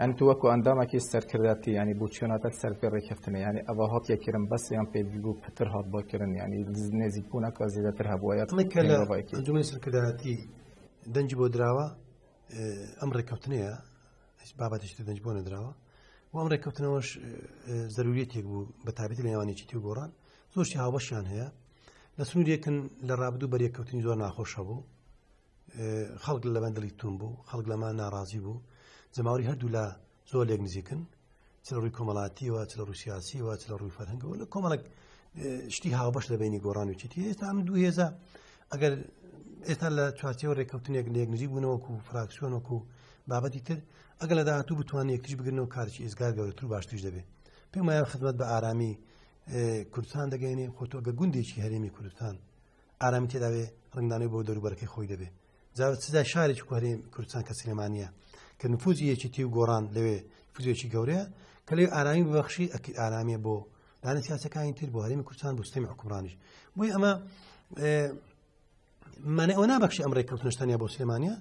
یانی تو وەکو ئەندامەکی سەرکردایەتی یانی بو چوناتەک سەر پێ ڕێکخستنێ یانی ئەڤا هاتیە کرن بەس یان پێدل بو پتر هات بۆ کرن یانی نێزیک بونەکە زیدەتر هەبوە یات ئەمەی کە لە ئەنجومەنی سەرکردایەتی دەنجی بۆ دراوە ئەم ڕێککەوتنەیە هیچ بابەتش دەنج بۆ نەدراوە و ئەم ڕێککەوتنەوەش زەروریەتێک بوو بە تابێت لە نێوانێکی تی گۆڕان زۆرشی هاوبەشیان هەیە لە سنوورێکن لە ڕابدوو بەریەککەوتنی زۆر ناخۆشە بوو خەڵک لەمە دڵی تون بوو خەڵک لەمە ناڕازی بوو جەماوری هەردوو لە زۆر لێک نزیکن چ لە ڕووی کۆمەڵاتیەوە چ لە ڕوسیاسیەوە چ لە ڕووی فەرهنگەوە لە کۆمەڵک شتی هاوبەش لە بینی گۆڕان و چیتی ئێستا ئەم دوو هێزە ئەگەر ئێستا لە چوارچەوە ڕێککەوتنێک لێک نزیک بوونەوەکو و فراکسیۆنەکو و بابەتی تر ئەگەر لە داهاتوو بتوانانی یەکتری بگرنەوە کارکی ئێزگار گەورەتر و باشتریش دەبێت پێمایان خدمەت بە ئارامی کوردستان دەگەێنێ خۆتۆگە گوندێکی هەرێمی کوردستان ئارامی تێداوێ ڕنگدانەوەی بۆ دەروبەرەکەی خۆی دەبێ جا سزا شارێکی کوهری کوردستان کە سلێمانە کە نفوزی یەکێتی و گۆڕان لەوێ فزیێکی گەورەیە کە لێ ئارامی ببخشی ئەکی ئارامیە بۆ دانە سیاسەکانی تر بۆ هەرمی کوردستان بستەمی حکومڕانیش بۆی ئەمە منە ئەو نابخشی ئەم ڕێککەوتنشتانیا بۆ سلێمانە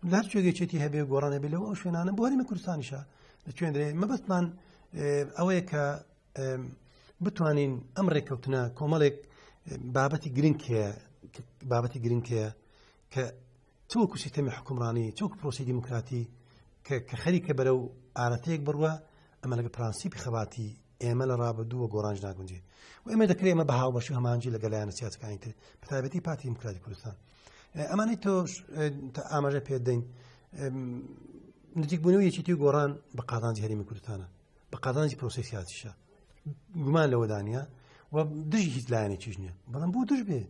لە هەر شوێگەچێتی هەبێ گۆڕانە بێ لەوە ئەو شوێنانە بۆ هەرمی کوردستانیشە لە کوێندرێ مەبەستمان ئەوەیە کە بتوانین ئەم ڕێککەوتنە کۆمەڵێک بابەتی گرنگ هەیە بابەتی گرنگ هەیە کە تۆ کوشی تەمی حکومڕانی چۆک پرۆسی دیموکراتی کە خەریکە بەرە و ئارەتەیەک بڕوە ئەمە لەگە پرانسیپی خەباتی ئێمە لە ڕابدووە گۆڕانج ناگونجێ و ئێمە دەکرێت ئمە بە هاوبەش و هەمانجی لە گەلایەنە سیاسەکانی تر پتابەتی پارتی دیموکراتی کوردستان ئەمانەی تۆ ئاماژە پێدەین نزیکبوونەوە یەکێتی گۆڕان بە قازانجی هەرمی کوردستانە بە قازانجی پرۆسی سیاسیشە گومان لەوەدانە و دژی هیچ لایەنێکیش نییە بەڵام بۆ دژ بێ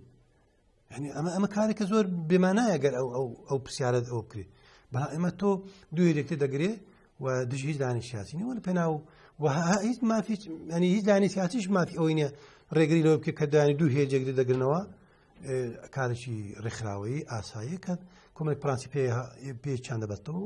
ینی ئەمە ئەمە کارێکە زۆر بێمانایە گەر ئەو ئەو ئەو پرسیارت ئەو بکرێ بە ئەمە تۆ دوێ لێکتە دەگرێ و دژ هیچ دانی سیاسی نیوە لە پێناو و هیچ مافی ئەنی هیچ دانی سیاسیش مافی ئەوەی نیە ڕێگری لەوە بکە کە دانی دوو هێ جێگری دەگرنەوە کارێکی ڕێکخراوەیی ئاسایی کە کۆمێک پرانسی پێ پێ چنددە بەستەوە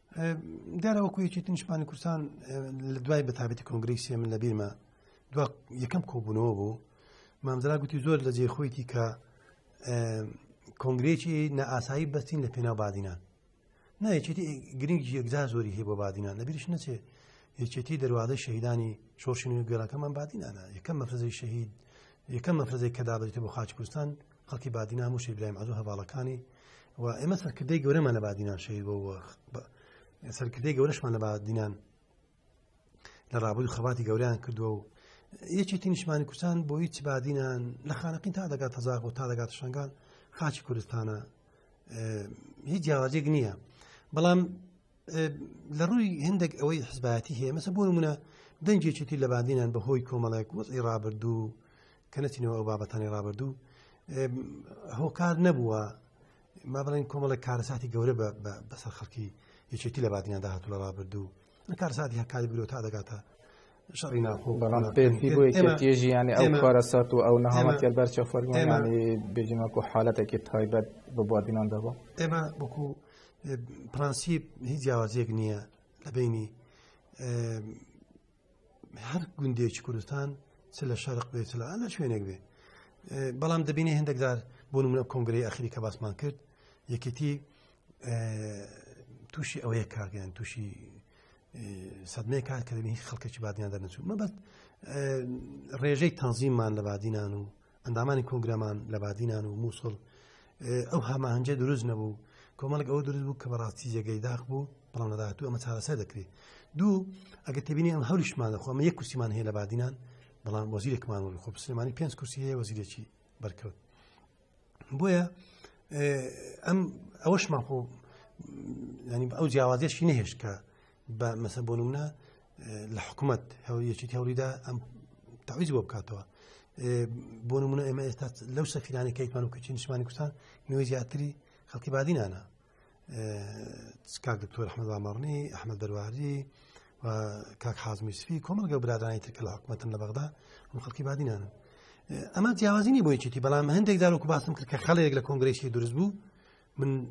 دیارە وەکو یەکێتی نیشمانی کوردستان لە دوای بەتابێتی کۆنگریسیە من لە بیرمە دو یەکەم کۆبوونەوە بوو مامزرا گوتی زۆر لە جێ خۆیتی کە کۆنگرێکی نائاسایی بەستین لە پێناو بادینان نایەکێتی گرنگ یەکجار زۆری هەیە بۆ بادینان لەبیرش نەچێ یەکێتی دەواازە شەهیدانی شۆشین و گەراکەمان بادینانە یەکەم مەفرزی شەهید یەکەم مەفرزێک کە دابێتە بۆ خاچ کوردستان خەڵکی بادینان و شەیبرایم عەزو هەواڵەکانی و ئێمە سەرکردەی گەورەمان لە بادینان شەیر بۆ سەرکردەی گەورەشمان لە بادینان لە ڕابووی خەباتی گەوریان کردووە و یەکێتی نیشمانی کوردستان بۆ هیچ بادینان لە خانەقین تا دەگات تەزاق و تا دەگات شنگان خاچی کوردستانە هیچ جیاوازێک نییە بەڵام لە ڕووی هندێک ئەوەی حزبایەتی هەیە مەسە بۆ منە دەنجێکێتی لە بادینان بە هۆی کۆمەڵێک وەزی ڕابردوو کە نەچینەوە ئەو بابەتانی ڕابردوو هۆکار نەبووە ما بڵین کۆمەڵی کارەساتی گەورە بەسەر خەڵکی یەکێتی لە بادینادا هاتو لە ڕابردوو کارساتی هەکاری برۆ تا دەگاتە شەڕی ناخۆ بەڵام پێتی بۆ یەکێتیژی ینی ئەو کارەسات و ئەو نەهامەتی بەرچە فەرمانی بێجیمەکو حالەتێکی تایبەت بە بادینان دەبە ئێمە وەکو پرەنسیب هیچ جیاوازێک نییە لە بینی هەر گوندێکی کوردستان چ لە شارق بێت لە ئەە شوێنێک بێ بەڵام دەبینێ هەندێکدار بۆ منە کۆنگری ئەخری کە باسمان کرد یەکێتی تووشی ئەوەیە کارگەیان تووشی سەدمەیە کار کردنی خەڵکەکی بادیان دەرنەچوو مەبەت ڕێژەی تەنزیمان لە بادینان و ئەندامانی کۆنگرەمان لە بادینان و مووسڵ ئەو هەماهنجە دروست نەبوو کۆمەڵک ئەوە دروست بوو کە بەڕاستی جێگەی داخ بوو بەڵام لەداهات و ئەمە چارەسەر دەکرێت دوو ئەگە تبینی ئەم هەوریشمان دەخۆمە یەک کورسیمان هەیە لە بادینان بەڵام وەزیرێکمان وەل خۆ سلێمانی پێنج کورسی هەیە وەزیرێکی بەرکەوت بۆیە ئەم ئەوەشمان خۆ ینی ئەو جیاوازیشی نەهێشت کە بە مەسە بۆ نمونە لە حکوومەت یەکێتی هەوریدا ئەم تاویز بۆ بکاتەوە بۆ نمونە ئێمە ئێستا لەو سەفیرانی کەیتمان و کچی نیشمانی کوردستان نوێ زیاتری خەڵکی بادینانە کاک دکتۆر ئەحمد ئاماڕنی ئەحمد دەرواری و کاک حازمی سفی کۆمەلگە برادرانی ترکە لە حکوومەتن لە بەغدا من خەڵکی بادینانە ئەمە جیاوازینی بۆ یەکێتی بەڵام هەندێک داروکو باسم کرد کە خەڵێک لە کۆنگرسی دروست بوو من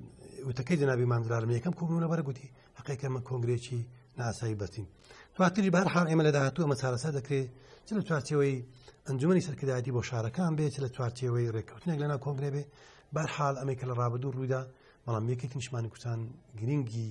وتەکەی جنابی مامدرارم یەکەم کۆبوونە بەر گوتی حقیقە من کۆنگرێکی ناسایی بەستین دواتری بار حال ئێمە لە داهاتوو ئەمە چارەسا دەکرێت چ لە چوارچەوەی ئەنجومی سەرکردایەتی بۆ شارەکان بێت چ لە چوارچەوەی ڕێککەوتنێک لەنا کۆنگرێ بێ بار حال ئەمەی کە لە ڕابدو ڕوودا بەڵام یەکێک نیشمانی کوچان گرنگی